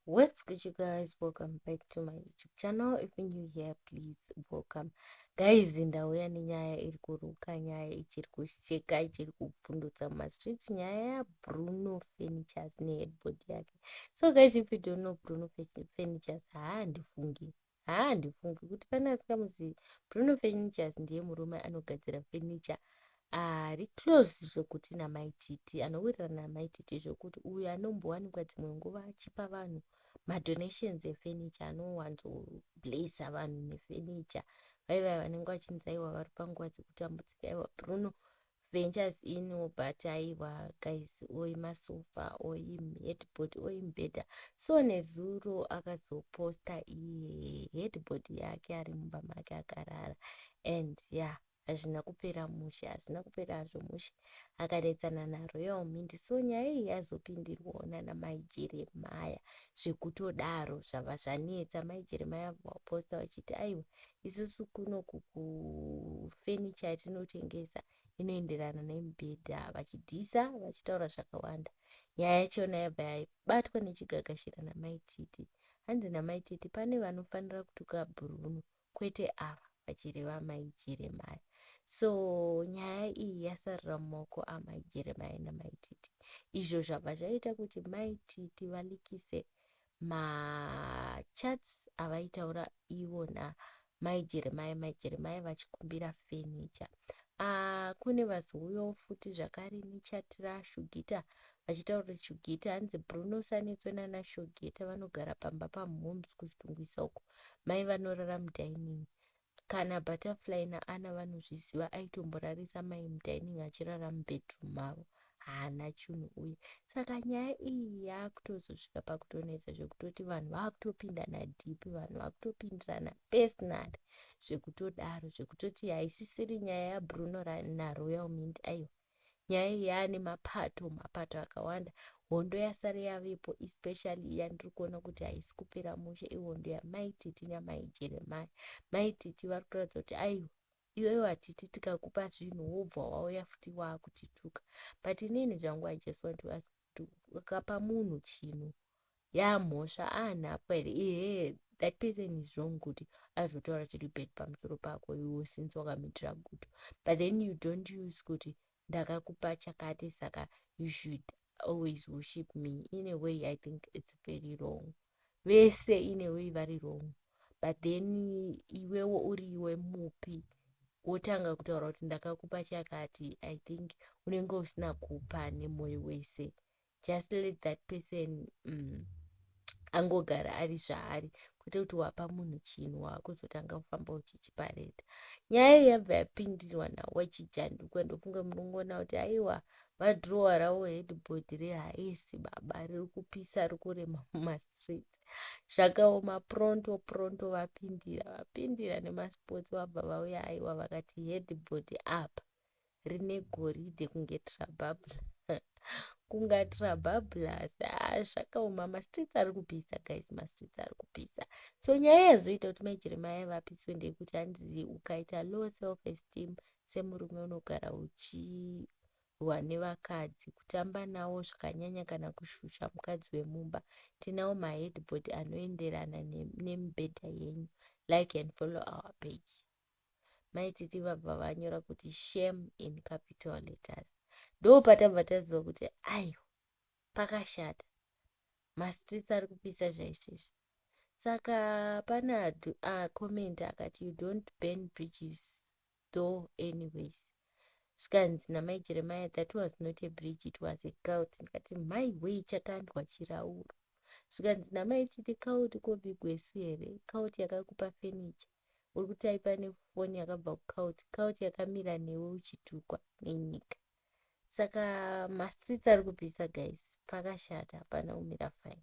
what's good you guys welcome back to my youtube channel if you're new here please welcome guys ndauya nenyaya iri kuruka nyaya ichiri kusheka ichiri kupfundutsa mumastreets nyaya yabruno furnitures neheadboard yake so guys if you don't know bruno furnitures haandifungi Haa handifungi kuti pane asikamuzivi Bruno Furnitures ndiye murume anogadzira furniture ari close zvekuti namai Titi anowirirana namai Titi zvekuti uyu anombowanikwa dzimwe nguva achipa vanhu madonations efurniture anowanzo blesser vanhu nefurniture vaivaya vanenge vachinzi aiwa vari panguva dzekutambudzika aiwa Bruno ventures in but aiwa guys or masofa or headboard or mbeda so nezuro akazoposta iye headboard yake ari mumba make akarara and ya yeah, hazvina kupera mushe hazvina kupera hazvo mushe akanetsana naroyal mint so nyaya iyi yazopindirwawo nana mai jeremaya zvekutodaro zvava zvanetsa mai jeremaya vaposta vachiti aiwa isusu kuno kufenicha yatinotengesa inoenderana nemibhedha vachidhisa vachitaura zvakawanda nyaya yachona yabva yabatwa nechigagashira namai titi hanzi namai titi pane vanofanira kutuka bhuruno kwete ava vachireva mai jeremaya so nyaya iyi yasarira mumaoko amai jeremaya namai titi izvo zvabva zvaita kuti mai titi valikise ma chats avaitaura iwona mai jeremaya mai jeremaya vachikumbira fenicha ah, kune vazouyawo futi zvakare nechat rashugita vachitaura kuti shugita hanzi bruno sanetswe nana shugita vanogara pamba pamhoms kuchitungwisa uko mai vanorara mudining Kana Butterfly naAnna vanozviziva aitomborarisa mai mudining achirara mubedroom mavo. Haana chunhu uye. Saka nyaya iyi yaakutozosvika pakutonetsa zvekutoti vanhu vakutopindana deep vanhu vakutopindirana personal zvekutodaro zvekutoti haisisiri nyaya yaBruno naRoyal Mint aiwa. nyaya iyi yaane mapato mapato akawanda hondo yasare yavepo especially iya ndiri kuona kuti haisi kupera mushe ihondo yamai titi namai jeremaya mai titi vari kuratidza kuti aiwa iwewe hatiti tikakupa zvinhu wobva wauya futi waakutituka but inini zvangu i just want to ask kuti ukapa munhu chinhu Yaamhosva aanhapwa here iyee that person is wrong kuti azotaura chiri bad pamusoro pako iwo since wakamitira gudo but then you don't use kuti ndakakupa chakati saka you should always worship me in a way i think it's very wrong vese in a way vari wrong but then iwewo uri iwe mupi wotanga kutaura kuti ndakakupa chakati i think unenge usina kupa nemoyo wese just let that person um, angogara ari zvaari kwete kuti wapa munhu chinhu waakuzotanga kufamba uchichipareta nyaya iyi yabva yapindirwa nawachijanduka ndofunge munongoona kuti aiwa vadhurowa ravo headboard rehaisi baba riri kupisa ri kurema mumastreets zvakaoma pronto pronto vapindira vapindira nemasports vabva vauya aiwa vakati headboard apa rine goridhe kunge trababla kunga trababla asi aa zvakaoma mastreets ari kupisa guys mastreets ari kupisa so nyaya yazoita kuti mai jeremaya vapiswe ndeyekuti hanzi ukaita low self esteem semurume unogara uchirwa nevakadzi kutamba nawo zvakanyanya kana kushusha mukadzi wemumba tinawo maheadboard anoenderana nemibhedha yenyu like and follow our page Mai Titi vabva vanyora kuti shame in capital letters. Ndopatabva taziva kuti aiwa pakashata. Mastreets ari kupisa zvaizvezvi. Saka pane acomment ah, akati you don't burn bridges though anyways. Zvikanzi namai Jeremiah that was not a bridge it was a cult. Ndikati mai wei chakandwa chirauro. Zvikanzi namai Titi cult kobigwesu here? Cult yakakupa furniture. Uri kutyper nefoni yakabva kucout, cout yakamira newe uchitukwa nenyika. Saka mastreets ari kupisa guys, pakashata hapana kumira fine.